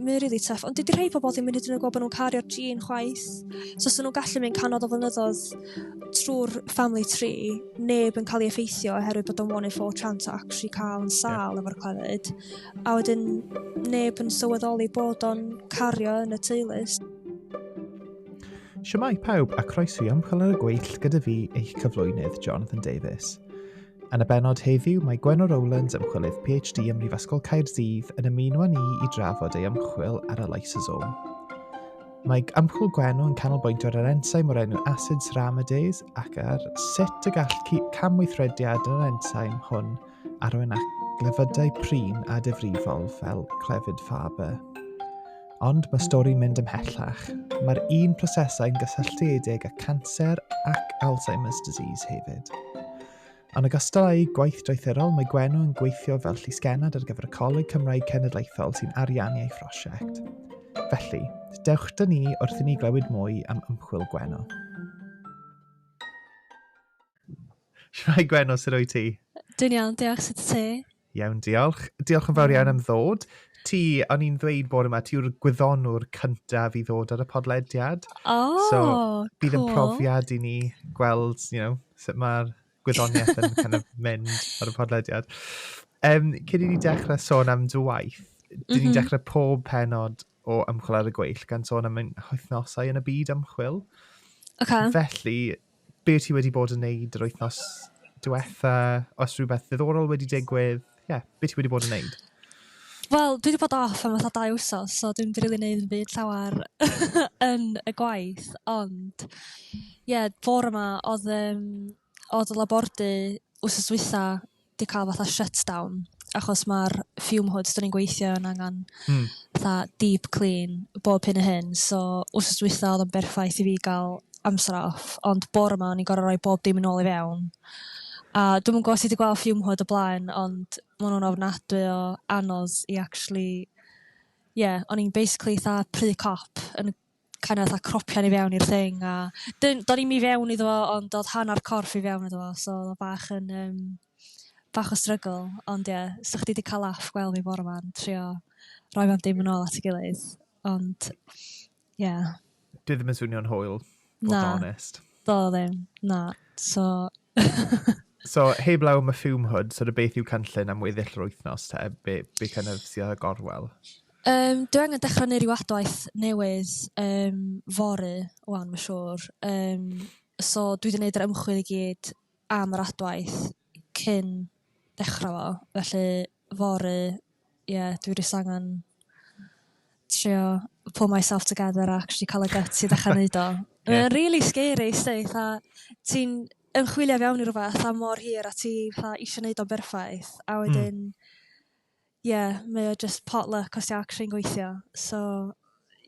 Mae'n really tough, ond dydy rhai pobl ddim yn hyd yn oed gweld bod nhw'n cario'r gene chwaith. So os nhw'n gallu mynd cannoedd o flynyddoedd trwy'r family tree, neb yn cael ei effeithio oherwydd bod o'n one in four chance o actually cael yn sal yeah. efo'r clefyd. A wedyn neb yn sylweddoli bod o'n cario yn y teulu. Siamai pawb a croeso i ymchwil ar y gweill gyda fi eich cyflwynydd Jonathan Davies. Yn y benod heddiw, mae Gwenno Rowlands, ymchwilydd PhD ym Mhrifysgol Caerdydd, yn ymuno â ni i drafod ei ymchwil ar y lysosome. Mae ymchwil Gwenno yn canolbwyntio ar yr ensaim o'r enw acid ceramidase ac ar sut y gall camweithrediad yn yr ensaim hwn arwain at glefydau prin a difrifol fel clefyd Faber. Ond mae stori'n mynd ymhellach. Mae'r un prosesau'n gysylltiedig â canser ac Alzheimer's disease hefyd. Yn ogystal â'i gwaith draethurol, mae Gwenw yn gweithio fel llysgennad ar gyfer y Coleg Cymraeg Cenedlaethol sy'n ariannu ei phrosiect. Felly, dewch dyn ni wrth i ni glywed mwy am ymchwil Gwenw. Shwmae Gwenno, sut wyt ti? Dwi'n iawn, diolch, sut y ti? Iawn, diolch. Diolch yn fawr iawn am ddod. Ti, o'n i'n ddweud bod yma, ti yw'r gwyddonwr cyntaf i ddod ar y podlediad. O, oh, so, bydd cool. yn profiad i ni gweld, you know, sut mae'r gwyddoniaeth yn kind of mynd ar y podlediad. Um, cyn i ni dechrau sôn am dy waith, dyn ni'n mm -hmm. dechrau pob penod o ymchwil ar y gweill gan sôn am ein wythnosau yn y byd ymchwil. Okay. Felly, be ti wedi bod yn neud yr wythnos diwetha, os rhywbeth ddiddorol wedi digwydd, ie, yeah, be ti wedi bod yn neud? Wel, dwi wedi bod off am fatha dau wsos, so dwi'n rili neud yn byd llawer yn y gwaith, ond ie, yeah, bore yma oedd, um, oedd y labordy wsos dwytha, 'di cael fatha shutdown achos mae'r fume hoods 'dyn ni'n gweithio yn angen hmm. fatha deep clean bob hyn a hyn. So wrth dwytha oedd yn berffaith i fi gael amser off, ond bore yma o'n i'n gorau rhoi bob dim yn ôl i fewn. A dwi'n mwyn gwybod ti wedi gweld fume hood o blaen, ond maen nhw'n ofnadwy o anodd i actually... Ie, yeah, o'n i'n basically tha pry cop yn kind of fatha cropio ni fewn i'r thing a dyn- do'n i'm i fewn iddo fo ond do'dd hannar corff i fewn iddo fo so odd o bach yn yym bach o strygl ond ie 'sych chdi 'di ca'l laff gwell fi bore 'ma'n trio roi fe'n dim yn ôl at 'i gilydd ond ie. Dwi ddim yn swnio'n hwyl. Na. Bod honest. Do ddim. Na. So So heblaw am y fume hood, sort of beth yw cynllun am weddill yr wythnos te? Be, be kind of sydd ar y gorwel? Yym dwi angen dechra neu' ryw adwaith newydd yym fory 'wan ma' siŵr yym so dwi 'di neud yr ymchwil i gyd am yr adwaith cyn dechra fo felly fory ie dwi jys angan trio pull myself together a actually ca'l y gyts i ddechra neud o. Mae o'n rili scary 'sti 'tha ti'n ymchwilio fewn i rwbath am mor hir a ti 'tha isio neud o'n berffaith a wedyn Ie, mae o jyst potluck os 'di o actually'n gweithio. So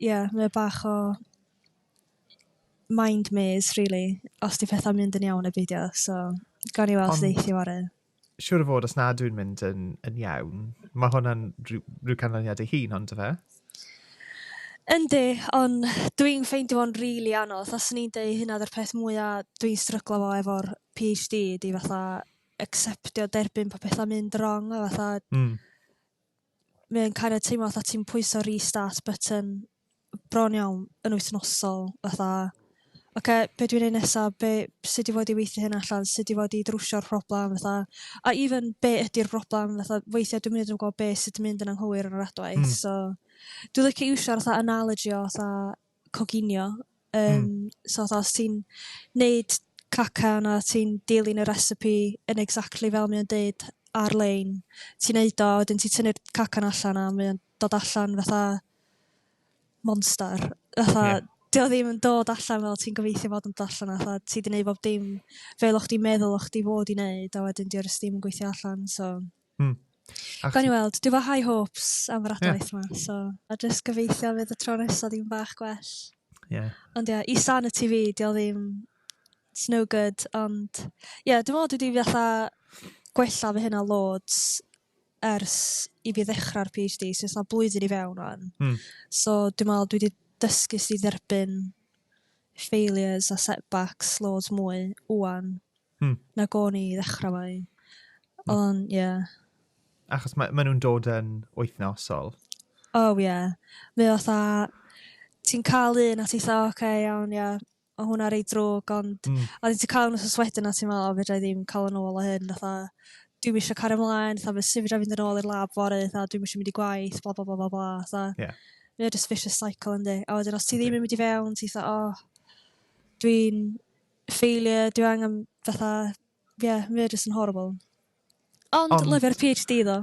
ie mae o bach o mind maze rili os 'di pethau'n mynd yn iawn neu beidio so gawn ni weld... Ond... ...sut eith fory. Siŵr o fod os nad yw'n mynd yn yn iawn mae hwnna'n rhyw rhyw canlyniad ei hun on'd yfe? Yndi ond dwi'n ffeindio fo'n rili anodd os o'n i'n deu' hynna odd yr peth mwya' dwi'n stryglo 'fo efo'r PhD 'di fatha acceptio, derbyn pa pethau mynd wrong, a fatha... Mm. Mae'n kind of teimlo fatha ti'n pwyso restart button bron iawn yn wythnosol, fatha... Oce, okay, be dwi'n ei nesa, be, sut i fod i weithio hyn allan, sut i fod i drwsio'r problem, fatha... A even, be ydy'r problem, fatha, weithiau dwi'n mynd yn gwybod be sydd yn mynd yn anghywir yn yr adwaith, mm. so... Dwi'n licio iwsio'r fatha analogy o fatha coginio. Um, mm. So os ti'n neud cacan a ti'n dilyn y recipe yn exactly fel mae'n deud ar-lein, ti'n neud o, wedyn ti'n tynnu'r cacan allan a mae'n dod allan fatha monster. Fatha, yeah. Dio ddim yn dod allan fel ti'n gobeithio fod yn dod allan a fatha, ti di neud bob dim fel o'ch di meddwl o'ch di fod i neud a wedyn diolch ddim yn gweithio allan. So, Hmm. Gawn ni weld. Dwi fo high hopes am yr adwaith yeah. yma. So, a jyst gobeithio fydd y tro nesaf ddim bach gwell. Yeah. Ond ie, yeah, i san y TV, di o ddim... It's no good, ond... Ie, yeah, dwi'n meddwl dwi wedi fatha gwella fy hynna loads ers i fi ddechrau'r PhD, so yna blwyddyn i fewn o'n. Mm. So dwi'n meddwl dwi wedi dysgu sydd dderbyn failures a setbacks loads mwy wwan. Hmm. Nag o'n i i ddechrau fo i. Hmm. Ond, ie. Yeah. Achos mae, mae nhw'n dod yn wythnosol. O, oh, ie. Yeah. Mae o tha... Ti'n cael un a ti'n tha, oce, okay, iawn, ie. Yeah. O hwnna rei drwg, ond... Mm. A ti'n cael nhw'n soswedyn a ti'n meddwl, o, fedra i ddim cael yn ôl o hyn. Tha, dwi'n eisiau cario ymlaen, tha, fe sy'n fedra fynd yn ôl i'r lab fori, tha, dwi'n eisiau mynd i gwaith, bla, bla, bla, bla, bla, tha. Yeah. Mae o just vicious cycle, yndi. A wedyn, os ti ddim yn mynd i fewn, ti'n tha, o, oh, dwi'n failure dwi angen fatha ie mae o jyst yn horrible. Ond, Ond... lyfio'r PhD ddo.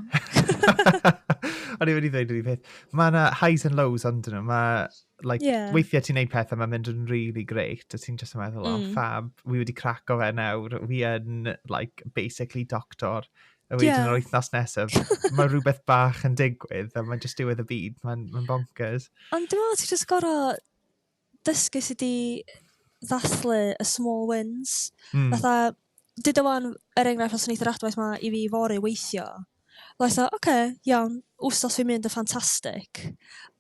O'n i'n mynd i ddweud yr un peth. Mae yna highs and lows ond nhw. Mae, like, yeah. weithiau ti'n neud pethau, mae'n mynd yn really great, a ti'n just yn meddwl, oh, mm. oh, fab, wi wedi crac o fe nawr, wi yn, like, basically doctor. A wedyn yeah. yr wythnos nesaf, mae rhywbeth bach yn digwydd, a mae'n just diwedd y byd, mae'n ma bonkers. Ond dwi'n meddwl, ti'n just gorau dysgu sut i ddathlu y small wins. Mm. Fatha, dydw o'n, er enghraifft, os wneith yr adwaith ma i fi fori weithio, like, oce, okay, iawn, wsos fi'n mynd yn ffantastig.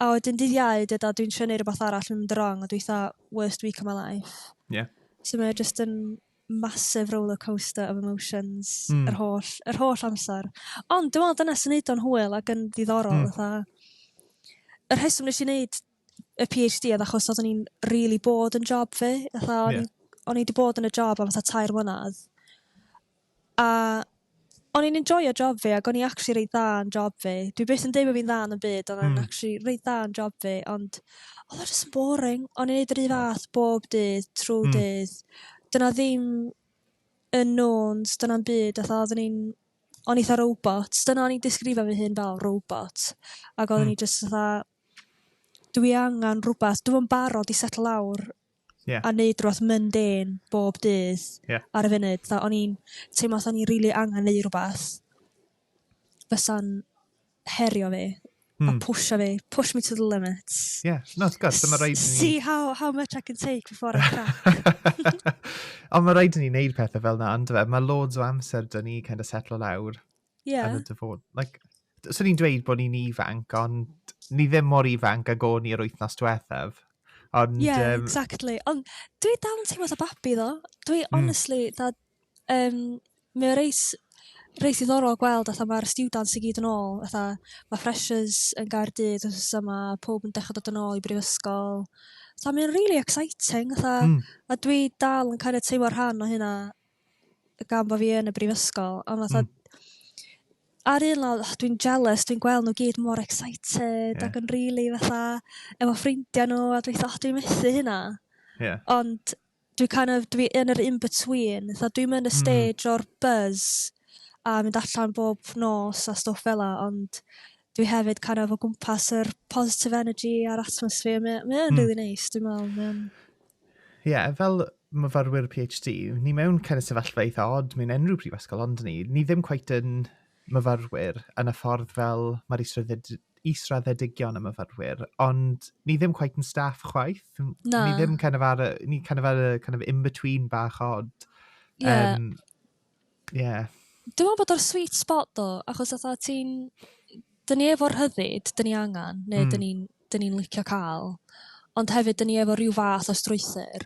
A wedyn dydd iau, dydw a dwi'n trio neud rhywbeth arall, mynd wrong, a dwi'n worst week of my life. Yeah. So mae just yn massive roller coaster of emotions mm. yr, holl, yr holl amser. Ond dwi'n meddwl dyna sy'n neud o'n hwyl ac yn ddiddorol. Mm. Fatha, y rheswm nes i wneud y PhD oedd achos oeddwn i'n rili bod yn job fi. Fatha, o'n yeah. o'n i wedi bod yn y job am fatha tair mlynedd. A o'n i'n enjoyo job fi ac o'n i actually reit dda yn job fi. Dwi beth yn dweud bod fi'n dda yn y byd, ond mm. o'n actually reit dda yn job fi, ond oedd o'n just boring. O'n i'n neud yr un fath bob dydd, trwy mm. dydd. Dyna ddim yn nôns, dyna'n byd, oedd oeddwn i'n o'n eitha robot. Dyna o'n i'n disgrifio fy hun fel robot. Ac oeddwn mm. i just fatha, dwi angen rhywbeth, dwi yn barod i settle lawr yeah. a neud rhywbeth mundane bob dydd yeah. ar y funud. Tha, o'n i'n teimlo o'n i'n really angen neud rhywbeth fysa'n herio fi mm. a hmm. pwysio fi, push me to the limits. Yeah, no, ti'n gwybod, dyma rhaid ni... See how, how much I can take before I crack. Ond mae rhaid ni wneud pethau fel na, ond e? mae loads o amser dyn ni kind of settle lawr yeah. yn y dyfod. Like, so ni'n dweud bod ni'n ifanc, ond ni ddim mor ifanc ag o'n i'r wythnos diwethaf. Ond, yeah, um... exactly. Ond dwi dal yn teimlo sa babi ddo. Dwi, mm. honestly, da, um, mae o reis, reis ddorol gweld, atho mae'r students i gyd yn ôl, atho mae freshers yn gair dydd, os yma, pob yn dechrau dod yn ôl i brifysgol. So, mae'n really exciting, atho, mm. a dwi dal yn kind of teimlo rhan o hynna, gan bo' fi yn y brifysgol ond fatha ar un lawr o dwi'n jealous dwi'n gweld n'w gyd mor excited ag yn rili fatha efo ffrindia' n'w a dwi fatha o dwi methu hynna ond dwi kind of dwi yn yr in between fatha dwi'm yn y hmm. stage o'r buzz a mynd allan bob nos a stwff fela ond Dwi hefyd kind of o gwmpas yr positive energy a'r atmosphere. Mae mae o'n mm. really neis, dwi'n meddwl. Mae o'n... Ie, yeah, fel myfyrwyr PhD, ni mewn kind of sefyllfa eitha odd mewn unrhyw prifysgol, ond ni, ni ddim cweit yn myfyrwyr yn y ffordd fel mae'r israddedigion y myfyrwyr, ond ni ddim cweit yn staff chwaith. Na. Ni ddim kind of ar y, ni kind of ar y kind of in-between bach odd. Yeah. Um, Yeah. Dwi'n meddwl bod o'r sweet spot do, achos oedd ti'n... Dyn ni efo'r rhyddid, dyn ni angen, neu mm. dyn ni'n dyn ni licio cael, ond hefyd dyn ni efo rhyw fath o strwythyr,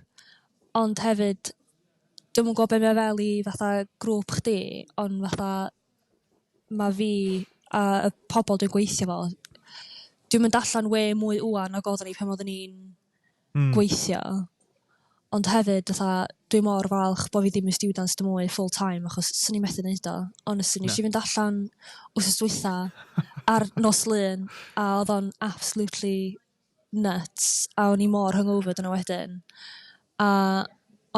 ond hefyd, dwi'n mwyn gwybod beth mae fel i fatha grŵp chdi, ond fatha mae fi a y pobl dwi'n gweithio fo, dwi'n mynd allan we mwy uan nag oeddwn ni pan oeddwn ni'n mm. gweithio. Ond hefyd, fatha, dwi mor falch bod fi ddim yn students dim mwy full time, achos swn i methu wneud o. Honestly, nes i fynd allan wrth dwytha ar nos lun, a oedd o'n absolutely nuts, a o'n i mor hungover dyna wedyn. A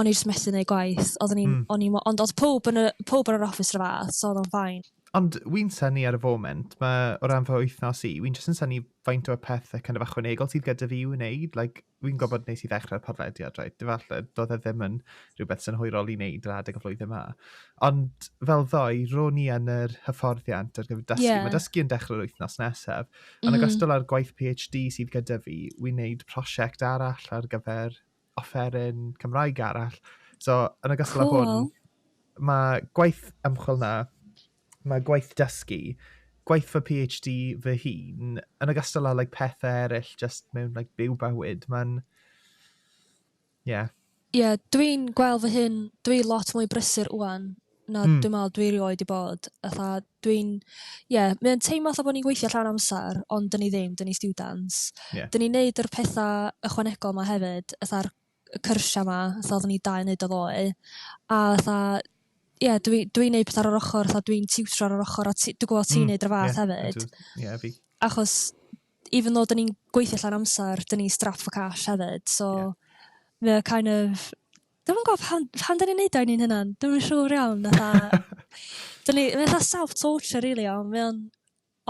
o'n i jyst methu wneud gwaith. Oedden ni'n, mm. ni, ond oedd pob yn, y, pob yn yr office rhyw fath, so oedd o'n ffain. Ond wy'n syni ar y foment, mae o ran fy wythnos i, wy'n jyst yn syni faint o'r pethau kind of achwanegol sydd gyda fi i'w wneud. Like, fi'n gwybod nes i ddechrau'r podlediad, right? Falle, doedd e ddim yn rhywbeth synhwyrol i wneud yr adeg y flwyddyn yma. Ond fel ddoe, ro'n i yn yr hyfforddiant ar gyfer dysgu. Yeah. Mae dysgu yn dechrau'r wythnos nesaf. Mm. Yn ogystal â'r gwaith PhD sydd gyda fi, wy'n wneud prosiect arall ar gyfer offeryn Cymraeg arall. So, yn y gystal cool. hwn, mae gwaith ymchwil na, mae gwaith dysgu, gwaith fy PhD fy hun, yn y gystal â like, pethau eraill, just mewn like, byw bywyd. Mae'n... Ie. Yeah. Ie, yeah, dwi'n gweld fy hun, dwi lot mwy brysur wwan na mm. dwi'n meddwl dwi rioed i bod. Atha, dwi'n... Ie, yeah, mae'n teimlo atho bod ni'n gweithio llawn amser, ond dyn ni ddim, dyn ni students. Yeah. Dyn ni'n neud yr pethau ychwanegol yma hefyd, atha'r cyrsiau yma, atha oeddwn ni dau wneud o ddoe. A atha, ie, yeah, dwi'n dwi, neud pethau ar yr ochr, atha dwi'n tiwtro ar yr ochr, a dwi'n gwybod ti'n mm, neud yr fath yeah, hefyd. Ie, yeah, fi. Achos, even though dyn ni'n gweithio llawn amser, dyn ni'n strapped for cash hefyd, so... Yeah. Mae kind of Dwi'm yn gwybod pam, pam dyn ni'n neud o i ni'n hynna'n, dwi'm yn siŵr iawn, fatha... dyn ni, mae'n fatha self-torture really iawn, mae o'n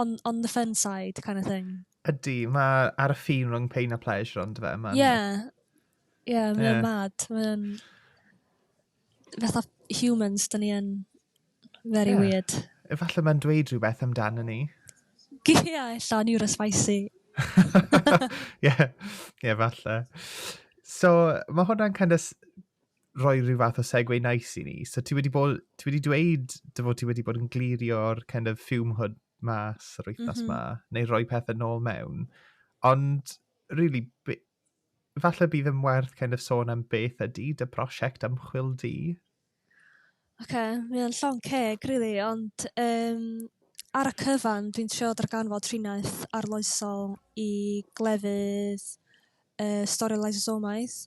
on, on the fun side kind of thing. Ydy, mae ar y ffin rhwng pain a pleasure ond fe. Ie, yeah. ie, yeah, mae'n yeah. mad, mae'n... fatha humans, dyn ni yn Very yeah. weird. Efallai mae'n dweud rhywbeth amdano ni. Gia, illa o'n iwr ysfaisi. Ie, ie, falle. So, mae hwnna'n kind of rhoi rhyw fath o segwe nice i ni. So, ti wedi, bod, ti wedi dweud dy fod ti wedi bod yn glirio'r kind of fume hood mas yr wythnos mm -hmm. ma, neu rhoi pethau nôl mewn. Ond, really, falle bydd yn werth kind of sôn am beth ydy dy prosiect ymchwil di? Oce mae o'n llon' ceg rili ond yym ar y cyfan dwi'n trio darganfod triniaeth arloesol i glefydd y stori lysosomiaeth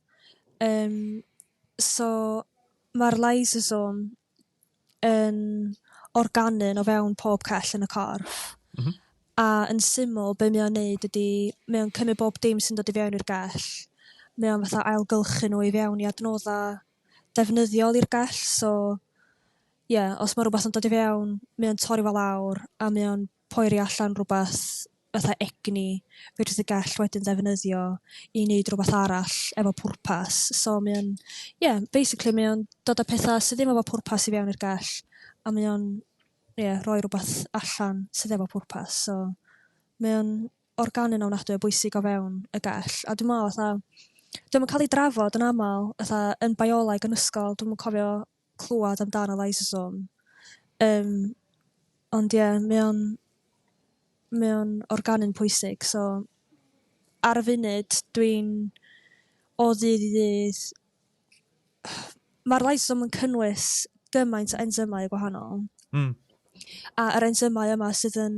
yym so ma'r lysosome yn organu o fewn pob cell yn y corff a yn syml be mae o'n neud ydi mae o'n cymryd bob dim sy'n dod i fewn i'r gell mae o'n fatha ailgylchu n'w i fewn i adnodda' defnyddiol i'r gell so ie os mae rhywbeth yn dod i fewn mae o'n torri fo lawr a mae o'n poeri allan rhywbeth fatha egni fedrith y gell wedyn ddefnyddio i neud rhywbeth arall efo pwrpas so mae o'n ie basically mae o'n dod â petha sydd ddim efo pwrpas i fewn i'r gell a mae o'n ie rhoi rhywbeth allan sydd efo pwrpas so mae o'n organyn ofnadwy o bwysig o fewn y gell, a dwi'n meddwl fatha, dwi'n yn cael ei drafod yn aml, fatha, yn bioleg yn ysgol, dwi'n yn cofio clywed amdano lysosome. Um, ond ie, yeah, mae o'n, mae o'n organyn pwysig, so ar y funud dwi'n o ddydd i ddydd, mae'r lysosome yn cynnwys gymaint o enzymau gwahanol. Mm. A yr enzymau yma sydd yn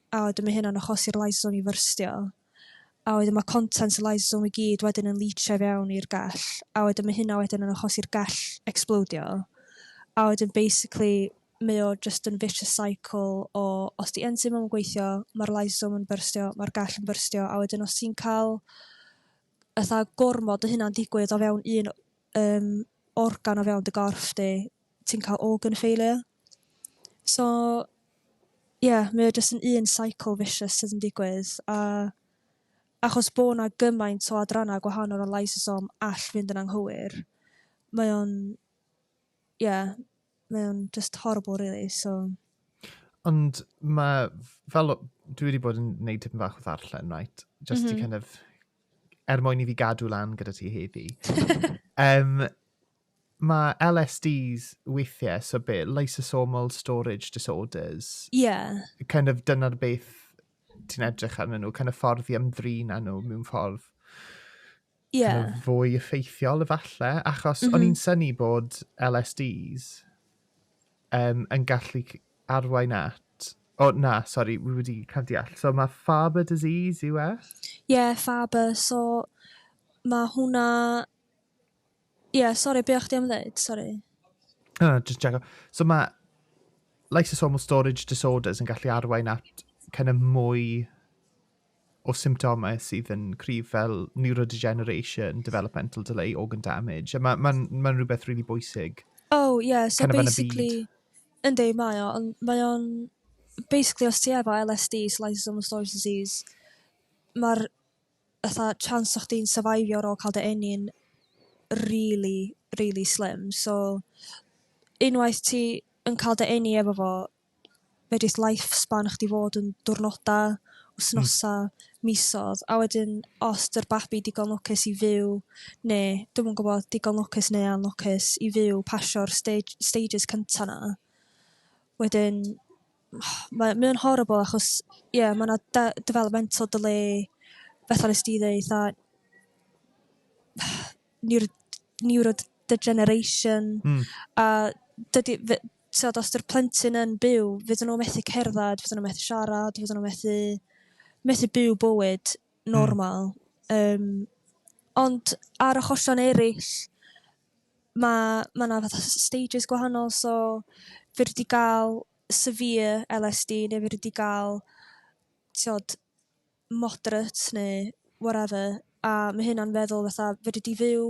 a wedyn ma' hynna'n achosi'r lysosome i fyrstio, a wedyn ma' contents y lysosome i gyd wedyn yn lîtsio i fewn i'r gell, a wedyn ma' hynna wedyn yn achosi'r gell ecsblowdio, a wedyn basically mae o jyst yn vicious cycle o os 'di enzim ddim yn gweithio, ma'r lysosome yn byrstio, ma'r gell yn byrstio, a wedyn os ti'n cael fatha gormod o hynna'n digwydd o fewn un yym organ o fewn dy gorff di, ti'n cael organ failure. So ie mae o jyst yn un cycle vicious sydd yn digwydd a achos bo' 'na gymaint o adrannau gwahanol o lysosom all fynd yn anghywir mae o'n ie mae o'n jyst horrible rili so... Ond ma' fel o- dwi 'di bod yn neud tipyn bach o ddarllen reit jyst i kind of er mwyn i fi gadw lan gyda ti heddi yym Mae LSDs weithiau, so be, lysosomal storage disorders? Ie. Kind of dyna'r beth ti'n edrych arnyn nhw, kind of ffordd i ymdrin â nhw mewn ffordd Ie. kind of fwy effeithiol efallai, achos mm -hmm. o'n mhm. i'n syni bod LSDs um, yn gallu arwain at O, na, sori, wi wedi cael deall. So mae Faber disease yw e? Ie, yeah, Faber. So mae hwnna Ie, yeah, sori, be o'ch di am ddeud? Sori. No, no, just check So mae lysosomal storage disorders yn gallu arwain at kind of mwy o symptomau sydd yn cryf fel neurodegeneration, developmental delay, organ damage. A mae'n ma, ma, ma rhywbeth really bwysig. Oh, yeah, so kind of basically... Yndi, mae o, ond mae o'n... Basically, os ti efo LSD, so lysosomal storage disease, mae'r fatha chance o chdi'n syrfeifio ar ôl ca'l dy eni yn rili rili slim so unwaith ti yn ca'l dy eni efo fo fedrith life span chdi fod yn diwrnoda', wthnosa', misodd a wedyn os 'di'r babi digon lwcus i fyw ne' dwi'm yn gwbod digon lwcus neu anlwcus i fyw pasio'r stêj- stages cynta' 'na wedyn mae mae o'n horrible achos ie ma' 'na de- developmental delay fatha nest ti ddeud 'tha neuro- neurodegeneration a dydi fy- t'od os 'di'r plentyn yn byw fydden n'w methu cerddad fydden n'w methu siarad fydden n'w methu methu byw bywyd normal yym ond ar achosion eryll ma' ma' 'na fatha s- stages gwahanol so fedri di ga'l severe LSD ne' fedri di ga'l t'od moderate neu whatever a ma' hynna'n feddwl fatha fedri di fyw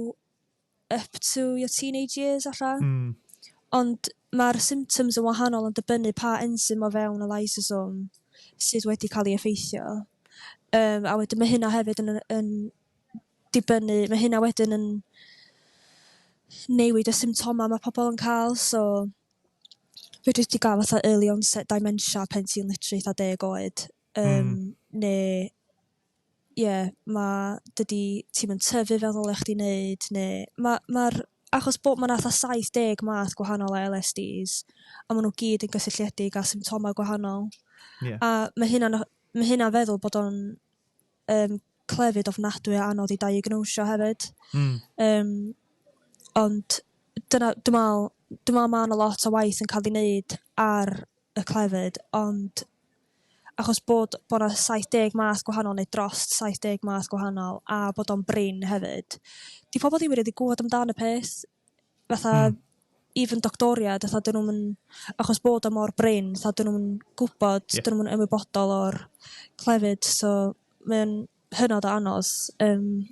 up to your teenage years ella. Hmm. Ond ma'r symptoms yn wahanol yn dibynnu pa ensym o fewn y lysosome sydd wedi ca'l 'i effeithio. Yym a wedyn ma' hynna hefyd yn yn dibynnu... ma' hynna wedyn yn newid y symptomau mae pobl yn cael so fedri di gael fatha early onset dementia pan ti'n literally fatha deg oed yym hmm. neu ie ma' dydi ti'm yn tyfu fel ddylech chdi neud neu ma' ma'r achos bod ma' 'na fatha 70 math gwahanol o LSDs a ma' nhw gyd yn gysylltiedig â symptomau gwahanol. Ie. A ma' hynna'n ma' hynna'n feddwl bod o'n yym clefyd ofnadwy o anodd i diagnosio hefyd. Hmm. Yym ond dyna dwi me'wl dwi me'wl ma' 'na lot o waith yn ca'l 'i neud ar y clefyd ond achos bod bo' 'na saith deg math gwahanol neu dros saith deg math gwahanol a bod o'n brin hefyd 'di pobol ddim rili gwbod amdan y peth fatha hmm. even doctoriad fatha dyn nhw'n achos bod o mor brin fatha dyn nhw'n gwybod yeah. dyn nhw'n ymwybodol o'r clefyd so mae'n hynod o anos um,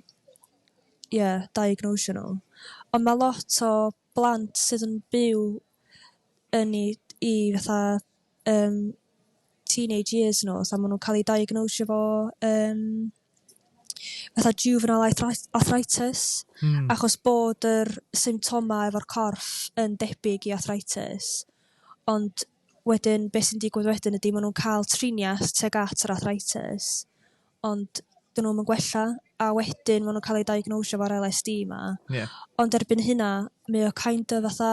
yeah, diagnosio nhw ond mae lot o blant sydd yn byw yn i, i fatha um, teenage years nhw, so maen nhw'n cael ei diagnosio fo um, fatha juvenile arthritis mm. achos bod yr symptomau efo'r corff yn debyg i arthritis ond wedyn beth sy'n digwydd wedyn ydy maen nhw'n cael triniaeth teg at yr arthritis ond dyn nhw'n gwella a wedyn maen nhw'n cael ei diagnosio fo'r LSD yma yeah. ond erbyn hynna mae o kind of fatha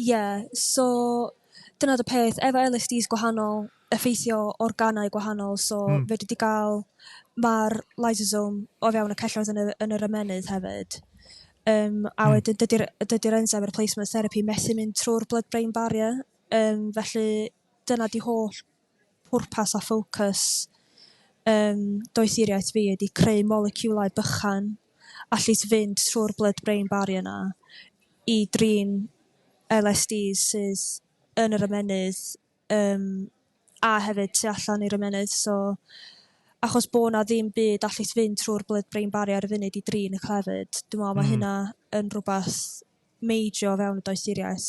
Ie so dyna 'di peth efo LSDs gwahanol effeithio organau gwahanol so... Hmm. ...fedri di ga'l ma'r lysosome o fewn y celloedd yn y yn yr ymennydd hefyd yym a... Hmm. ...wedyn dydi'r yy dydi'r enzyme replacement therapy methu mynd trw'r blood brain barrier yym felly dyna 'di holl pwrpas a ffocws ym doethuriaeth fi ydi creu moleciwlau bychan allet fynd trwy'r blood-brain barrier 'na i drin LSDs sydd yn yr ymennydd yym a hefyd tu allan i'r ymennydd so achos bod 'na ddim byd allet fynd trwy'r blood-brain barrier ar y funud i drin y clefyd dwi me'wl ma' hynna yn rwbath major o fewn y doethuriaeth.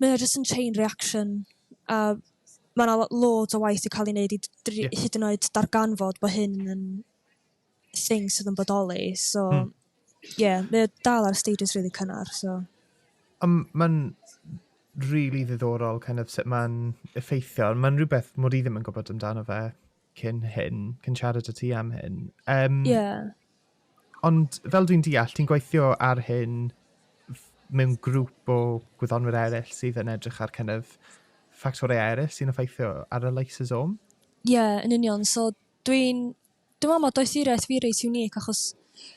Mae o jyst yn chain reaction a mae yna loads o waith i cael ei wneud i dri, yeah. hyd yn oed darganfod bod hyn yn thing sydd yn bodoli. So, hmm. yeah, mae o dal ar stages really cynnar. So. Um, mae'n really ddiddorol kind of sut mae'n effeithio. Mae'n rhywbeth mod i ddim yn gwybod amdano fe cyn hyn, cyn siarad y ti am hyn. Um, yeah. Ond fel dwi'n deall, ti'n gweithio ar hyn mewn grŵp o gwyddonwyr eraill sydd yn edrych ar kind of ffactorau eraill sy'n effeithio ar y lysosome? Ie, yeah, yn union. So, dwi'n... Dwi'n meddwl mae doethuriaeth fi reit unique achos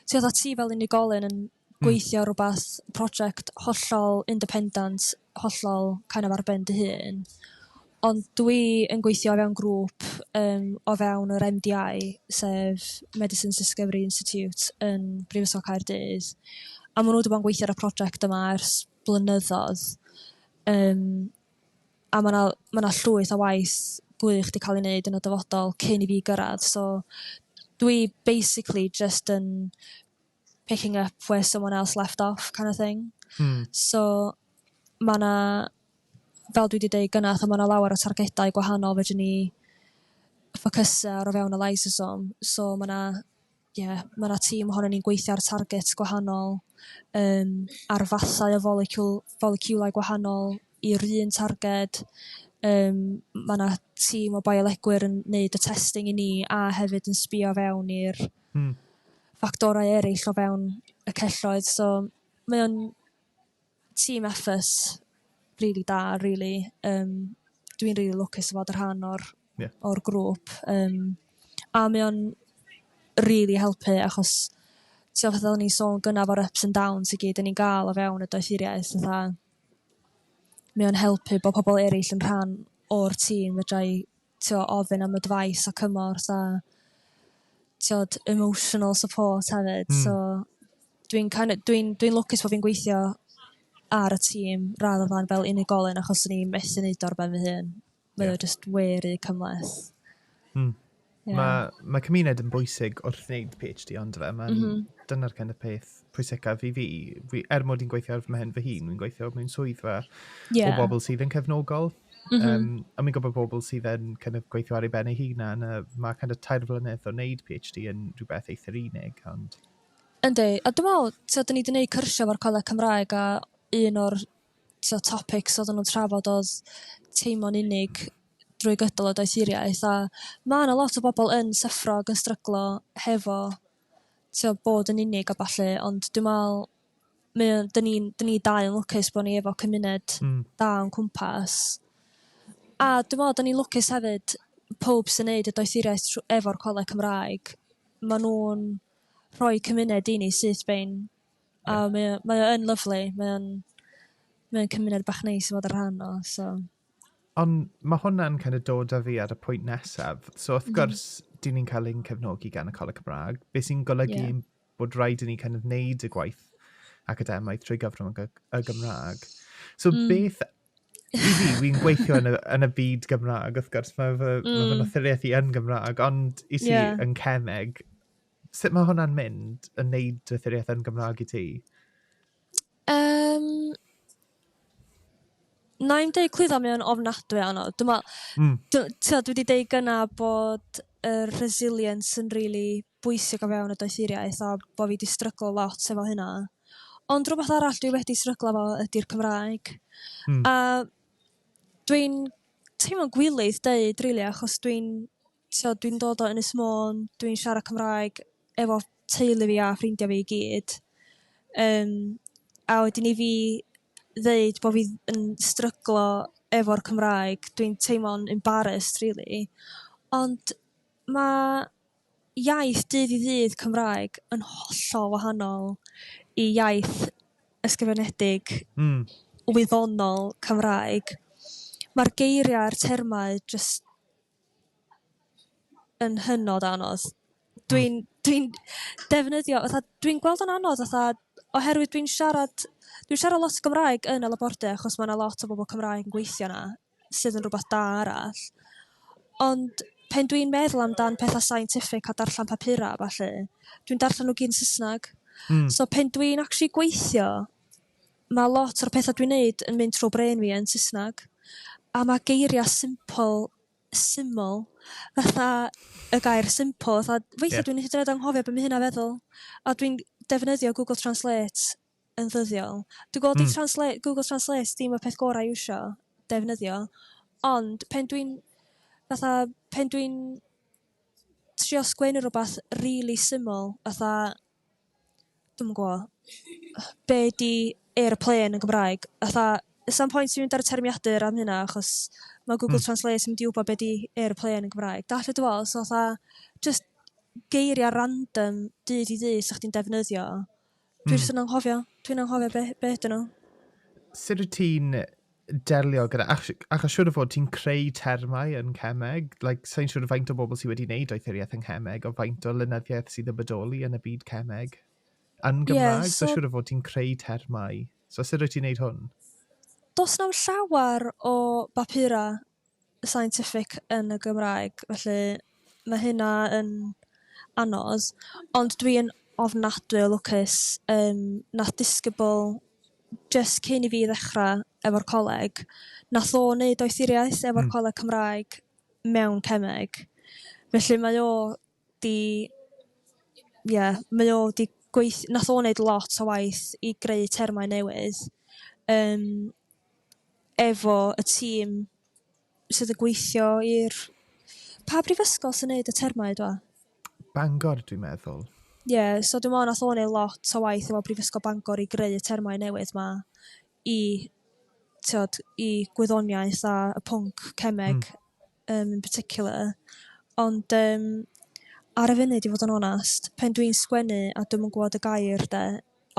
ti oedd ti fel unigolyn yn hmm. gweithio ar rhywbeth, prosiect hollol independent, hollol kind of ar ben dy hun, ond dwi yn gweithio o fewn grŵp um, o fewn yr MDI, sef Medicines Discovery Institute yn Brifysgol Caerdydd, a maen nhw wedi bod yn gweithio ar y prosiect yma ers blynyddoedd, um, a mae yna ma na llwyth o waith gwych wedi cael ei wneud yn y dyfodol cyn i fi gyrraedd, so dwi basically just yn picking up where someone else left off kind of thing. Hmm. So, mae yna, fel dwi wedi dweud gyna, fatha mae yna lawer o targedau gwahanol fedrwn ni ffocysu ar o fewn y lysosom. So, mae yna yeah, mae yna tîm ohono ni'n gweithio ar targets gwahanol, um, ar fathau o folecwl, foleciwlau gwahanol i'r un targed. Um, mae yna tîm o biolegwyr yn neud y testing i ni a hefyd yn sbio fewn i'r Hmm. ffactorau eraill o fewn y celloedd so mae o'n team effort rili da rili um, dwi'n rili lwcus o fod y rhan o'r yeah. o'r grŵp um, a mae o'n rili helpu achos ti'n fath o'n i'n sôn gynnaf o'r ups and downs i gyd yn ni'n gael o fewn y doethuriaeth fatha mae o'n helpu bod pobl eraill yn rhan o'r tîm fedrai t'o' ofyn am advice a cymorth a t'od emotional support hefyd... Hmm. ...so dwi'n kin' o' dwi'n dwi'n lwcus bo' fi'n gweithio ar y tîm radd o flan fel unigolyn achos o'n i methu neud o ar ben fy hun. Ie. Mae o jyst we ry cymhleth. Hmm. Ie. Ma' ma' cymuned yn bwysig wrth wneud Pee Haitch Dee on'd yfe? Ma'n... M-hm. ...dyna'r kind of peth pwysicaf i fi. fi er mod i'n gweithio ar fy mhen fy hun, fi'n gweithio mewn swyddfa yeah. o bobl sydd yn cefnogol. Mm -hmm. um, a mi'n gwybod bobl sydd yn kind of, gweithio ar ei ben ei hunan, a mae kind of, tair flynedd o wneud PhD yn rhywbeth eithr unig. Ond... Yndi, a dwi'n meddwl, so, dyn ni wedi gwneud cyrsiau o'r Coleg Cymraeg a un o'r so, topics oedden nhw'n trafod oedd teimlo'n unig drwy gydol y doethuriaeth a mae yna lot o bobl yn syffro ac yn stryglo hefo t'o' bod yn unig a ballu ond dwi me'wl mae o 'dyn ni'n 'dyn ni dau yn lwcus bo' ni efo cymuned... Hmm. ...da o'n cwmpas. A dwi me'wl 'dyn ni lwcus hefyd powb sy'n neud y doethuriaeth tr- efo'r Coleg Cymraeg ma' nw'n rhoi cymuned i ni syth bin a mae o mae o yn lyfli mae o'n mae o'n cymuned bach neis i fod yn rhan o so... Ond mae hwnna'n kind of dod â fi ar y pwynt nesaf. So wrth gwrs, mm -hmm. dyn ni'n cael ein cefnogi gan y Coleg Cymraeg, beth sy'n golygu yeah. bod rhaid i ni kind of wneud y gwaith academaidd trwy gyfrwng y Gymraeg. So mm. beth i fi, fi'n gweithio yn y, yn y byd Gymraeg, wrth gwrs, mae fy, mm. ma fy nothuriaeth i yn Gymraeg, ond i si yeah. yn cemeg, sut mae hwnna'n mynd yn neud nothuriaeth yn Gymraeg i ti? Yym na i'm deud clwydda mae o'n ofnadwy o anodd dwi me'wl... Hmm. ...dw- t'od dwi 'di deud gynna' bod yr resilience yn rili bwysig o fewn y doethuriaeth a bo' fi 'di stryglo lot efo hynna. Ond rwbath arall dwi wedi stryglo 'fo ydi'r Cymraeg. Hmm. A dwi'n teimlo'n gwilydd deud rili achos dwi'n so dwi'n dod o Ynys Môn dwi'n siarad Cymraeg efo teulu fi a ffrindia fi i gyd yym a wedyn i fi ddeud bo' fi yn stryglo efo'r Cymraeg dwi'n teimlo'n embarrased rili ond ma' iaith dydd i ddydd Cymraeg yn hollol wahanol i iaith ysgrifenedig... Hmm. ...wyddonol Cymraeg. Ma'r geiria' a'r termau jyst yn hynod o anodd. Dwi'n dwi'n defnyddio fatha dwi'n gweld o'n anodd fatha oherwydd dwi'n siarad dwi'n siarad lot o Gymraeg yn y labordy achos ma' 'na lot o bobol Cymraeg yn gweithio 'na sydd yn rwbath da arall ond pen dwi'n meddwl amdan petha' scientific a darllan papura' a ballu dwi'n darllan n'w gyd yn Sysnag. Hmm. So pen dwi'n actually gweithio ma' lot o'r petha' dwi'n neud yn mynd trw' brên fi yn Saesneg a ma' geiria' simple syml fatha y gair simple fatha weithia' dwi'n hyd yn oed anghofio be ma' hynna feddwl a dwi'n defnyddio google translate yn ddyddiol. Dwi gweld i transla- google translate ddim y peth gora' i iwsio defnyddio ond pen dwi'n fatha pen dwi'n trio sgwennu rwbath rili syml fatha dwi'm yn gwo be 'di aeroplane yn Gymraeg fatha sa'm pwynt i mynd ar y termiadur am hynna achos ma' Google Translate yn mynd i w'bod be 'di aeroplane yn Gymraeg dallt be dwi fe'wl so atha jyst geiria' random dydd i ddydd 'sa chdi'n defnyddio dwi jyst yn anghofio dwi'n anghofio be be 'dyn nhw. Sut wt ti'n delio gyda, achos siwr o fod ti'n creu termau yn cemeg, like, sa'n siwr faint o bobl sydd wedi wneud doethuriaeth yn cemeg, o faint o lynyddiaeth sydd yn bodoli yn y byd cemeg yn Gymraeg, yeah, so, so siwr o fod ti'n creu termau. So sut rwyt ti'n gwneud hwn? Does na'm llawer o bapurau scientific yn y Gymraeg felly ma' hynna yn anodd ond dwi yn ofnadwy o lwcus yym nath disgybl jyst cyn i fi ddechra' efo'r coleg nath o 'neud doethuriaeth efo'r Coleg Cymraeg mewn cemeg felly mae o 'di ie mae o 'di gweith- nath o neud lot o waith i greu termau newydd yym efo y tîm sydd yn gweithio i'r... Pa brifysgol sy'n neud y termau dwa? Bangor dwi'n meddwl. Ie yeah, so dwi'n meddwl nath o neud lot o waith efo Brifysgol Bangor i greu y termau newydd 'ma i t'od i gwyddoniaeth a y pwnc cemeg. Hmm. yym yn particular ond yym ar y funud i fod yn onest pan dwi'n sgwennu a dwi'm yn gwybod y gair de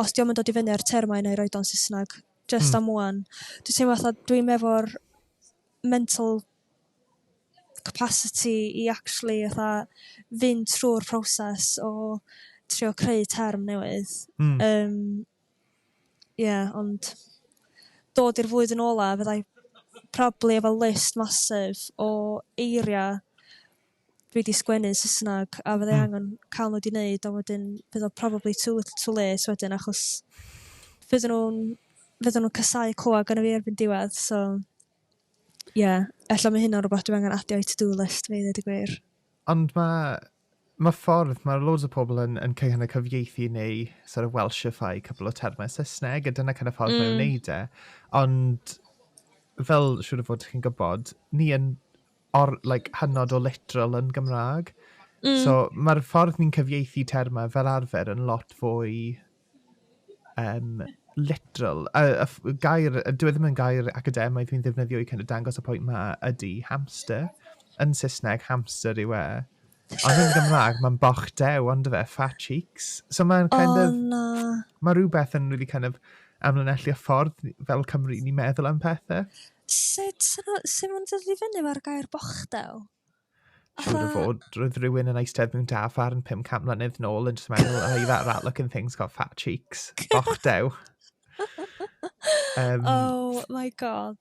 os dio'm yn dod i fyny ar termau nai roid o'n Saesneg jyst am ŵan. Dwi'n teimlo fatha dwi'm efo'r mental capacity i actually fatha fynd trw'r proses o trio creu term newydd... Hmm. ...yym Ie ond dod i'r flwyddyn ola' fyddai probably efo list massive o eiria' dwi 'di sgwennu yn Saesneg a fyddai angen ca'l n'w 'di 'neud a wedyn fydd o probably too little too late wedyn achos fydden n'w'n fydden n'w'n casau clwad gynno fi erbyn diwedd so ie ella ma' hynna'n rwbath dwi angen adio i to do list fi i ddeud y gwir. Ond ma' Mae ffordd, mae loads o pobl yn yn kind of cyfieithu neu sort of welshify couple o termau Saesneg a dyna kind of ffordd mm. mae o'n neud e. Ond fel siŵr o fod chi'n gwybod, ni yn or, like, hynod o literal yn Gymraeg. Mm. So mae'r ffordd ni'n cyfieithu termau fel arfer yn lot fwy um, literal, y, y, y gair, dwi e ddim yn gair academaidd fi'n ddefnyddio i kind of dangos y pwynt ma ydy hamster. Yn Saesneg, hamster yw e. Ond yn Gymraeg, mae'n boch dew, ond fe, fat cheeks. So mae'n kind oh, of... Na. Mae rhywbeth yn really kind of amlinellu y ffordd fel Cymru ni'n meddwl am pethau. Sut, sut mae'n dod i fyny mae'r gair boch dew? Siwr o fod, roedd rhywun yn eistedd mewn da farn 500 mlynedd nôl yn just meddwl, oh, that rat looking thing's got fat cheeks. Och dew. Um, oh my god.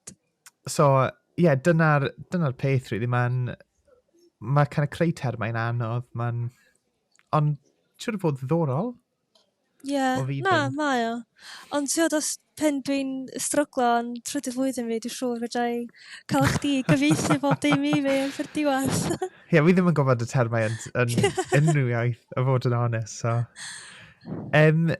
So, ie, yeah, dyna'r dyna peth, really. Mae'n... Mae kind of creu termau'n anodd. Mae'n... Ond, siwr o fod ddiddorol. Ie na mae o ond t'wod os pan dwi'n stryglo yn trydydd flwyddyn fi dwi siŵr fedra i ca'l chdi i gyfieithu bob dim i fi yn diwedd. Ie fi ddim yn gwybod y termau yn unrhyw iaith a fod yn onest so. Um,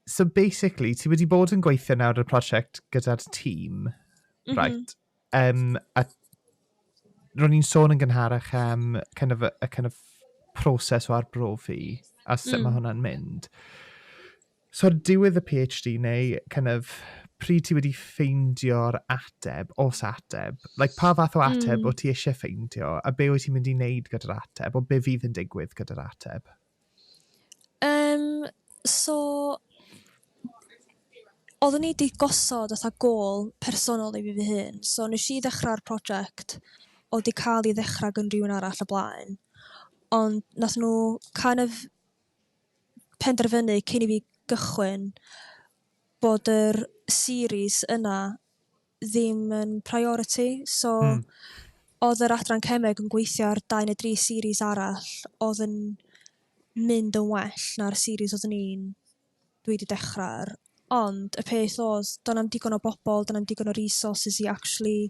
so basically ti wedi bod yn gweithio nawr ar y prosiect gyda'r tîm, mm -hmm. right? Yym, a ro'n i'n sôn yn gynharach am kind of, y kind of proses o arbrofi a sut mm. mae hwnna'n mynd. So, diwedd y PhD neu kind of pryd ti wedi ffeindio'r ateb, os ateb, like, pa fath o ateb mm. o ti eisiau ffeindio, a be wyt ti'n mynd i wneud gyda'r ateb, o be fydd yn digwydd gyda'r ateb? Yym so oddwn i 'di gosod fatha gôl personol i fi fy hun so neshi i ddechra'r project odd 'di ca'l i ddechra gan rywun arall o blaen ond nath nw kind of penderfynu cyn i fi gychwyn bod yr series yna ddim yn priority. So, mm. oedd yr adran cemeg yn gweithio ar dau neu dri series arall, oedd yn mynd yn well na'r series oedd ni'n dwi wedi dechrau ar. Ond y peth oedd, do'n am digon o bobl, do'n am digon o resources i actually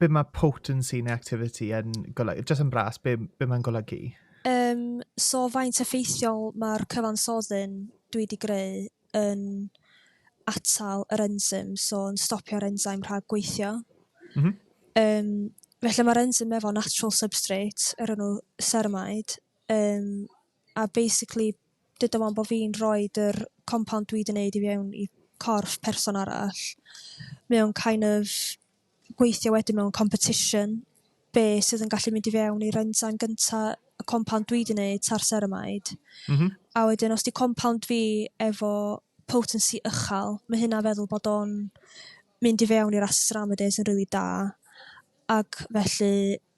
Be mae potency neu activity yn golygu? Just yn bras, be, be mae'n golygu? Um, so faint effeithiol mae'r cyfansoddyn dwi wedi greu yn atal yr enzym, so yn stopio'r enzyme rhag gweithio. Mm -hmm. um, felly mae'r enzym efo natural substrate, yr enw ceramide, um, a basically dyda fo'm bo' fi'n rhoid yr compound dwi 'di neud i fewn i corff person arall mae o'n kind of gweithio wedyn mewn competition be' sydd yn gallu mynd i fewn i'r ensign gynta' y compound dwi 'di neud ta'r ceramide m-hm a wedyn os 'di compound fi efo potency ychal ma' hynna feddwl bod o'n mynd i fewn i'r acids aromadase yn rili da ag felly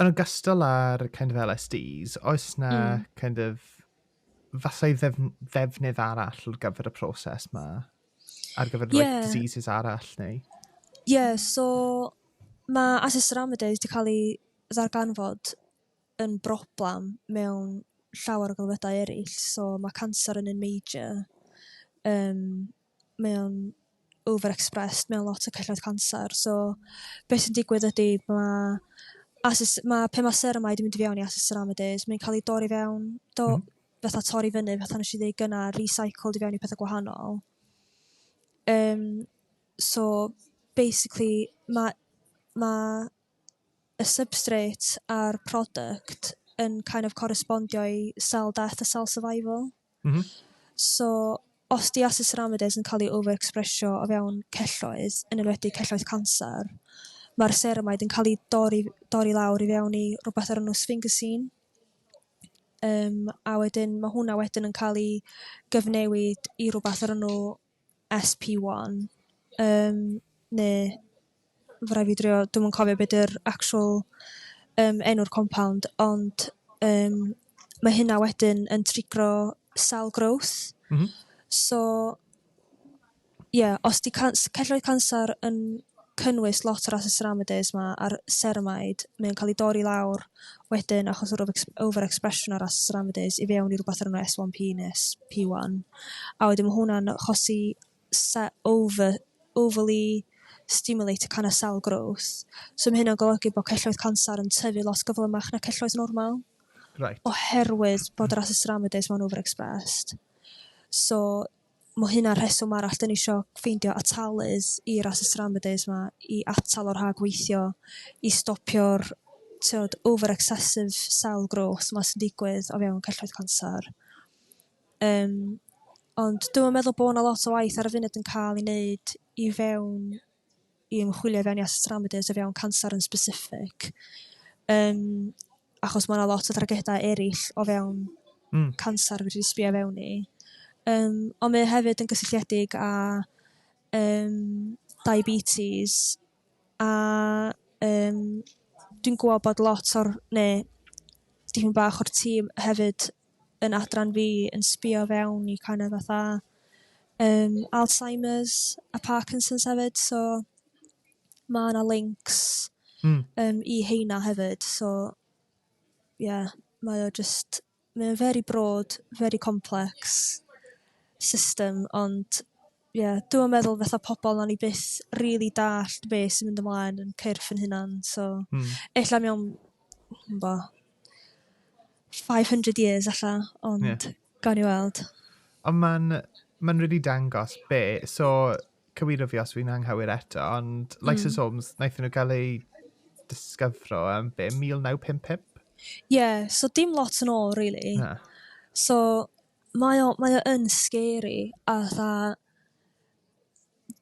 Yn ogystal â'r kind of LSDs, oes na mm. kind of fasau ddef ddefnydd arall ar gyfer y proses ma? Ar gyfer yeah. like, diseases arall neu? Ie, yeah, so mae asesuramidase wedi cael ei ddarganfod yn broblem mewn llawer o gylfedau eraill. So mae cancer yn un major. Um, mae o'n over expressed mewn lot o celloedd canser so be sy'n digwydd ydi ma' asus ma' pan ma' ceramide yn mynd i fewn i asus ceramides mae'n ca'l i dorri fewn do... Hmm. ...fatha torri fyny fatha neshi ddeu' gynna' recycled i fewn i petha' gwahanol yym so basically ma' ma' y substrate a'r product yn kind of correspondio i cell death a cell survival. Mm -hmm. So, os di aceceramides yn cael ei overexpresio o fewn celloedd, yn enwedig celloedd canser, mae'r ceramide yn cael ei dorri, dorri lawr i fewn i rhywbeth o'r enw sphingosine, Um, a wedyn mae hwnna wedyn yn cael ei gyfnewid i rhywbeth o'r enw SP1 yym neu ma' rai' fi drio dwi'm yn cofio be' 'di'r actual yym enw'r compound ond yym ma' hynna wedyn yn trigro cell growth. M-hm. So ie os 'di can- celloedd canser yn cynnwys lot o'r asesuramedys 'ma a'r ceramide, mae o'n cael ei dorri lawr wedyn achos yr over-expression o'r asesuramedys i fewn i rhywbeth o'r enw S1P neu SP1. A wedyn mae hwnna'n achosi se- over, overly stimulate y canna cell growth. So mae hynna'n golygu bod celloedd canser yn tyfu lot gyflymach na celloedd normal. Right. Oherwydd bod yr asesuramedys ma'n overexpressed. So Mae hynna'n rheswm arall dan ni isio ffeindio atalydd i'r asset remedies 'ma i atal o rhag weithio, i stopio'r tiod over excessive cell growth 'ma sy'n digwydd o fewn celloedd canser. Yym ond dwi'm yn meddwl bod 'na lot o waith ar y funud yn cael ei wneud i fewn i ymchwilio i fewn i asesu o fewn canser yn specific yym achos ma' 'na lot o dargeda eryll o fewn hmm. canser fedri sbio fewn i. Yym ond mae hefyd yn gysylltiedig â yym diabetes a yym dwi'n gwybod bod lot o'r ne' dipyn bach o'r tîm hefyd yn adran fi yn sbio fewn i kind of fatha yym Alzheimers a Parkinson's hefyd so ma' 'na lincs... Hmm. ...yym i heina hefyd so ie mae o jyst mae o'n very broad very complex system ond Ie dwi'm yn meddwl fatha pobol nawn ni byth rili dallt be' sy'n mynd ymlaen yn cyrff yn hunan so... Hmm. ...ella mewn dwi'm bo five hundred years ella ond... Ie. ...gawn ni weld. Ond ma'n ma'n rili dangos be' so cywiro fi os fi'n anghywir eto ond lysosomes naethon nhw ga'l eu disgyfro yn be' mil naw pump pump? Ie so dim lot yn ôl rili. Na. So Mae o mae o yn scary a 'tha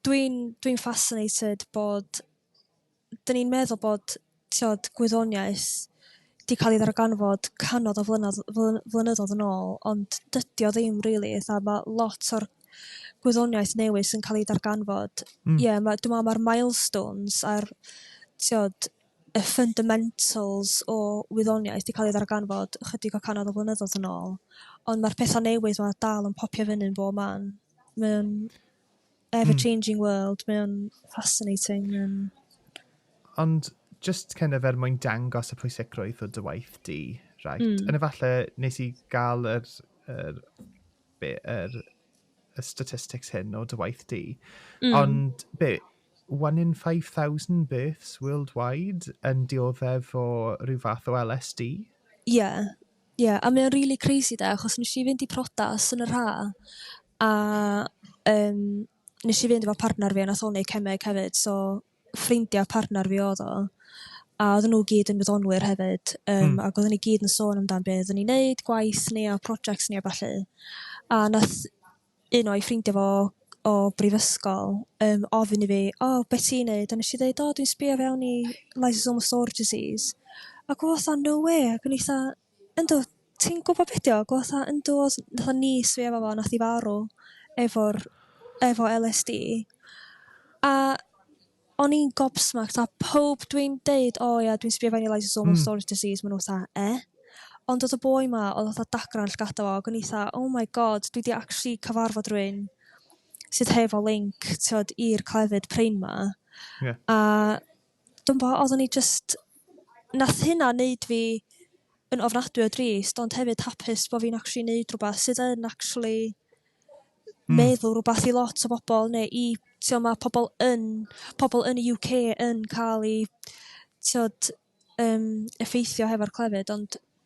dwi'n dwi'n fascinated bod 'dyn ni'n meddwl bod t'od gwyddoniaeth 'di ca'l ei ddarganfod canoedd o flynodd- fly- flynyddoedd yn ôl ond dydi o ddim rili 'tha ma' lot o'r gwyddoniaeth newydd sy'n ca'l ei darganfod ie ma' dwi me'l ma'r milestones a'r t'od y fundamentals o wyddoniaeth 'di cael ei ddarganfod ychydig o cannoedd o flynyddoedd yn ôl, ond mae'r pethau newydd 'ma dal yn popio fyny yn bob man. Mae o'n ever hmm. changing mm. world, mae o'n fascinating. Mae'n... Ond just kind of er mwyn dangos y pwysigrwydd o dy waith di, right? Mm. Yn efallai nes i gael yr, yr, be, yr y statistics hyn o dy waith di, mm. ond be, one in 5,000 births worldwide yn dioddef o rhyw fath o LSD? Ie, yeah. ie, yeah. a mae'n really crazy da, achos nes i fynd i protas yn yr ha, a um, nes i fynd efo partner fi, a nath o'n neud cemeg hefyd, so ffrindiau partner fi oedd o, a oedden nhw gyd yn wyddonwyr hefyd, um, hmm. ac oedden ni gyd yn sôn amdan beth oedden ni'n neud, gwaith ni a projects ni a falle. A nath un o'i ffrindiau fo o brifysgol um, ofyn i fi, o, oh, beth ti'n neud? A nes i ddeud, o, oh, dwi'n sbio fewn i lysosomal storage disease. Ac o fatha, no way, ac yn eitha, Yndw, ti'n gwybod be' 'di o? Fatha yn dodd fatha niece fi efo fo nath 'i farw efo'r efo El Ess Dee a o'n i'n gobsmacked a powb dwi'n deud o ia dwi'n sbio fewn i lysosomal hmm. storage disease ma' nhw fatha e? Ond oedd y boi 'ma oedd fatha dagrau llgada fo ac o'n i fatha oh my god dwi 'di actually cyfarfod rwy'n sydd hefo link t'od i'r clefyd prin 'ma. Yeah. A Dwi'm bo, oddwn i jyst... Nath hynna neud fi yn ofnadwy o drist ond hefyd hapus bo' fi'n actually neud rwbath sydd yn actually hmm. meddwl rwbath i lot o bobl neu i t'o' ma' pobl yn pobl yn y UK yn cael eu t'od yym effeithio hefo'r clefyd ond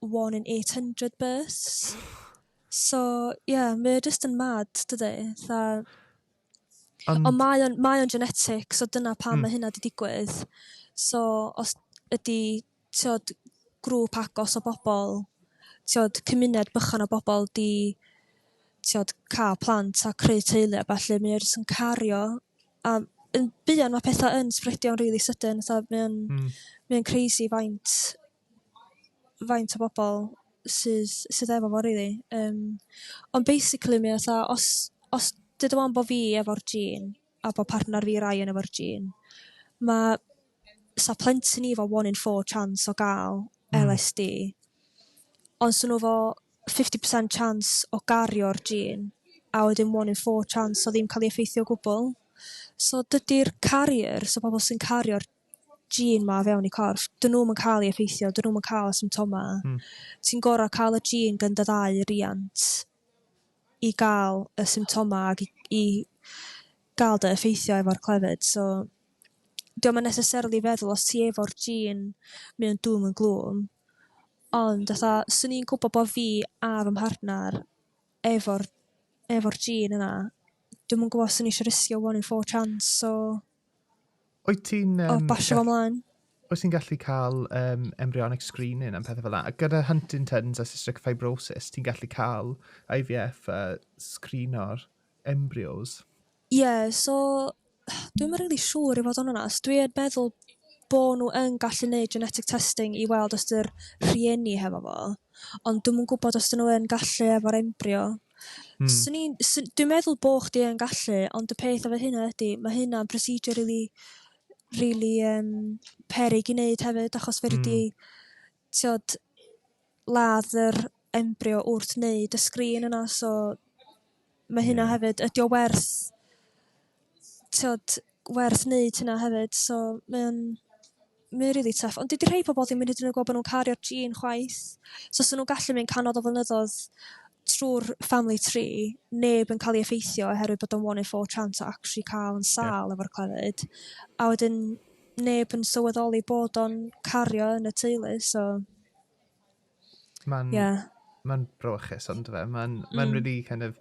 one in eight hundred births. So ie mae o jyst yn mad dydi? Fatha... Ond Ond mae o'n mae o'n genetic so dyna pam mm. mae hynna 'di digwydd. So os ydi t'od grŵp agos o bobl t'od cymuned bychan o bobl 'di t'od ca'l plant a creu teulu a ballu mae o jyst yn cario a yn buan ma' petha' yn sbredio'n rili sydyn fatha mae o'n... Hmm. ...mae o'n crazy faint faint o bobol sydd sydd efo fo rili yym ond basically mae o 'tha os os duda 'wan bo' fi efo'r gene a bo' partner fi Ryan efo'r gene ma' 'sa plentyn ni efo one in four chance o ga'l LSD ond 'sa n'w efo fifty percent chance o gario'r gene a wedyn one in four chance o ddim ca'l ei effeithio o gwbwl so dydi'r carriers y pobol sy'n cario'r gene 'ma o fewn eu corff, 'dyn nhw'm yn cael ei effeithio, 'dyn nhw'm yn cael y symptoma. Hmm. Ti'n gorau cael y gene gan dy ddau riant i gael y symptoma ac i, i gael dy effeithio efo'r clefyd. So, diolch yn necessarily feddwl os ti efo'r gene mewn dŵm yn glwm, ond fatha, swn i'n gwybod bod fi a fy mhartner efo'r efo'r gene yna, dwi'm yn gwybod os o'n i eisiau risgio one in four chance o Wyt ti'n... Um, o, basio fo mlaen. Wyt ti'n gallu cael um, embryonic screening am pethau fel yna? Gyda Huntington's a cystic fibrosis, ti'n gallu cael IVF a screenor embryos? Ie, yeah, so dwi'n rili really siŵr i fod yn onast. Dwi'n meddwl bod nhw yn gallu gwneud genetic testing i weld os dy'r rhieni hefo fo. Ond dwi'n mwyn gwybod os dyn nhw yn gallu efo'r embrio. Mm. Swn i'n... swn- Dwi'n meddwl bo' chdi yn gallu ond y peth efo hynna ydi ma' hynna'n procedure rili rili yym peryg i neud hefyd achos fedri di hmm. t'od ladd yr embrio wrth neud y sgrin yna so ma' hynna hefyd ydi o werth t'od werth neud hyna hefyd so mae o'n mae o rili tough ond dydi rhei pobol ddim hyd yn oed yn gw'bod bo' n'w'n cario'r jîn chwaith so 'sa n'w'n gallu mynd canol o flynyddoedd trw'r family tree neb yn ca'l i effeithio oherwydd bod o'n one in four chance o actually ca'l yn sâl efo'r clefyd a wedyn neb yn sylweddoli bod o'n cario yn y teulu so Mae'n yeah. ma brochus ond fe. Mae'n mm. ma really kind of...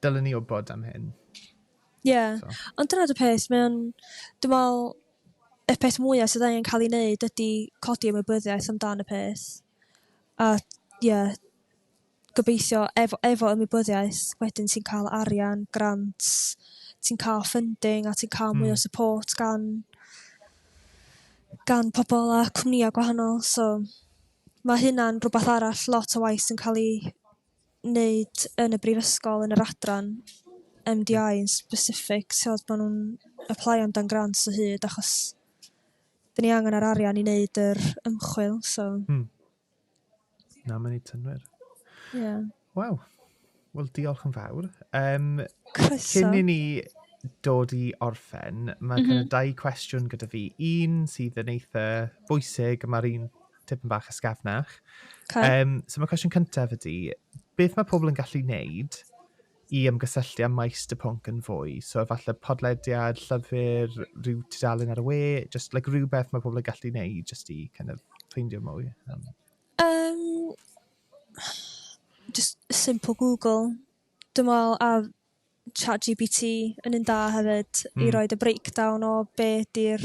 Dylen ni wybod am hyn. Ie. Yeah. So. Ond dyna dy peth, mae'n... Dwi'n meddwl, y peth mwyaf sydd angen cael ei wneud ydy codi ymwybyddiaeth amdan y peth. A, ie, yeah, gobeithio efo efo ymwybyddiaeth wedyn ti'n cael arian, grant, ti'n cael funding a ti'n cael mwy o hmm. support gan gan pobl a cwmnïau gwahanol so mae hynna'n rhywbeth arall lot o waith sy'n cael ei wneud yn y brifysgol yn yr adran MDI yn specific so maen nhw'n apply am dan grants o hyd achos dyn ni angen yr arian i wneud yr ymchwil so hmm. Na, mae'n ei tynwyr. Ie. Yeah. Waw. Wel, diolch yn fawr. Um, Croeso. Cyn i ni dod i orffen, mae mm -hmm. kind of dau cwestiwn gyda fi. Un sydd yn eitha bwysig, mae'r un tipyn bach ysgafnach. Okay. Um, so mae cwestiwn cyntaf ydy, beth mae pobl yn gallu wneud i ymgysylltu â maes dy pwnc yn fwy. So efallai podlediad, llyfr, rhyw tudalen ar y we, just like rhywbeth mae pobl yn gallu gwneud just i kind of ffeindio mwy. Um. Um, just simple Google. Dwi'n meddwl a chat GPT yn un da hefyd mm. i hmm. roed y breakdown o be di'r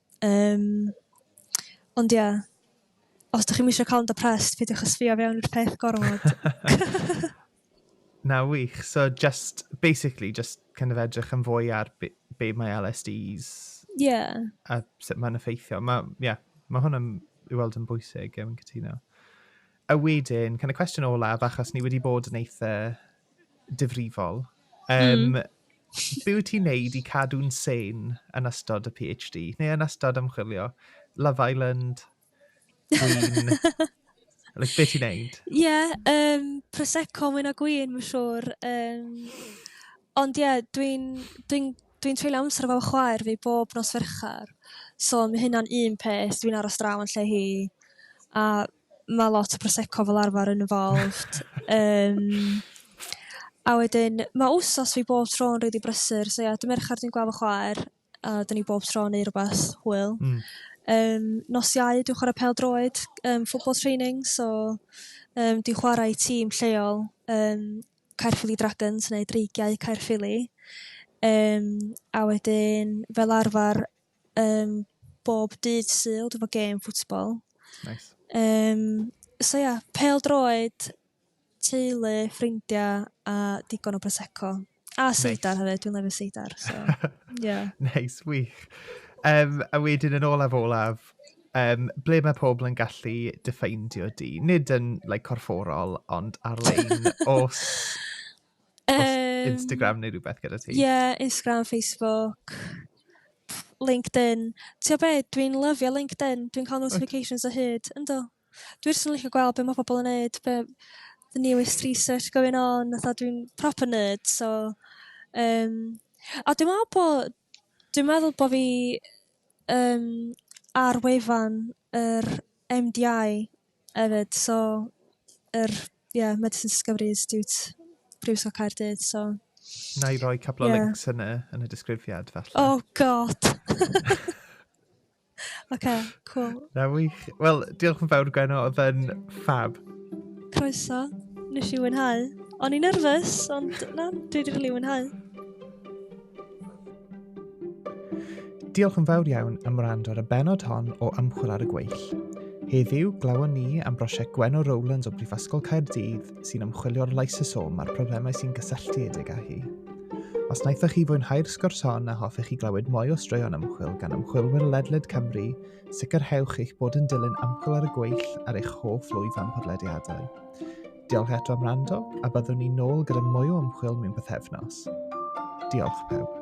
Yym ond ia os 'da chi'm isio cael yn depressed peidiwch â sbio fewn i'r peth gormod. Na wych so just basically just kind of edrych yn fwy ar be, be mae LSDs yeah. a sut mae'n effeithio. Mae yeah, ma hwn yn ei weld yn bwysig, yn cytuno. A wedyn, kind of cwestiwn olaf, achos ni wedi bod yn eitha difrifol. Um, mm. Be wyt ti'n neud i cadw'n sen yn ystod y PhD, neu yn ystod ymchwilio? Love Island, Gwyn, like, beth ti'n neud? Ie, yeah, um, Prosecco mwy na Gwyn, mae'n siŵr. Um, ond ie, yeah, dwi'n dwi, dwi, dwi treulio amser efo chwaer fi bob nos ferchar. So mae hynna'n un peth, dwi'n aros draw yn lle hi. A ma' lot o prosecco fel arfer yn involved yym a wedyn ma' wsos fi bob tro yn rili brysur so ia dy' Merchar dwi'n gweld fy chwaer a 'dyn ni bob tro yn neu' rwbath hwyl. Hmm. Yym nos Iau dwi'n chwara' pêl-droed yym football training so yym dwi'n chwara' i tîm lleol yym Caerffili Dragons neu Dreigiau Caerffili yym a wedyn fel arfar Um, bob dydd syl, dwi'n fo gêm ffwtsbol. Nice. Um, so ia, pel droed, teulu, ffrindiau a digon o Prosecco. A seidar hefyd, dwi'n lefio seidar. So, yeah. nice, wych. Um, a wedyn yn olaf olaf, um, ble mae pobl yn gallu diffeindio di? Nid yn like, corfforol, ond ar-lein, os Um, Instagram neu rhywbeth gyda ti? Ie, yeah, Instagram, Facebook, LinkedIn. Ti'n be, dwi'n lyfio LinkedIn, dwi'n cael notifications o hyd, ynddo. Dwi'n sy'n licio gweld beth mae pobl yn neud, be, the newest research going on, a dwi'n proper nerd, so... Um, a dwi'n meddwl bod, dwi'n meddwl bod fi um, ar wefan yr MDI hefyd, so yr er Ie Medicine Discovery Institute Prifysgol Caerdydd so... Na i roi couple yeah. o links yn y, yn y disgrifiad falle. Oh god! OK, cool. Na wych. Wel, diolch yn fawr Gwenno, oedd yn fab. Croeso, nes i wynhau. O'n i'n nerfus, ond na, dwi wedi rili wynhau. Diolch yn fawr iawn am wrando ar y benod hon o Ymchwil ar y Gweill. Heddiw, glawon ni am brosiect Gwenno Rowlands o Brifysgol Caerdydd sy'n ymchwilio'r lysosom a'r problemau sy'n gysylltiedig â hi. Os wnaethoch chi fwynhau'r sgwrs hon a hoffech chi glywed mwy o straeon ymchwil gan ymchwilwyr ledled Cymru, sicrhewch eich bod yn dilyn ymchwil ar y gweill ar eich hoff lwyfan podlediadau. Diolch eto am rando, a byddwn ni'n nôl gyda mwy o ymchwil mewn bythefnos. Diolch pawb.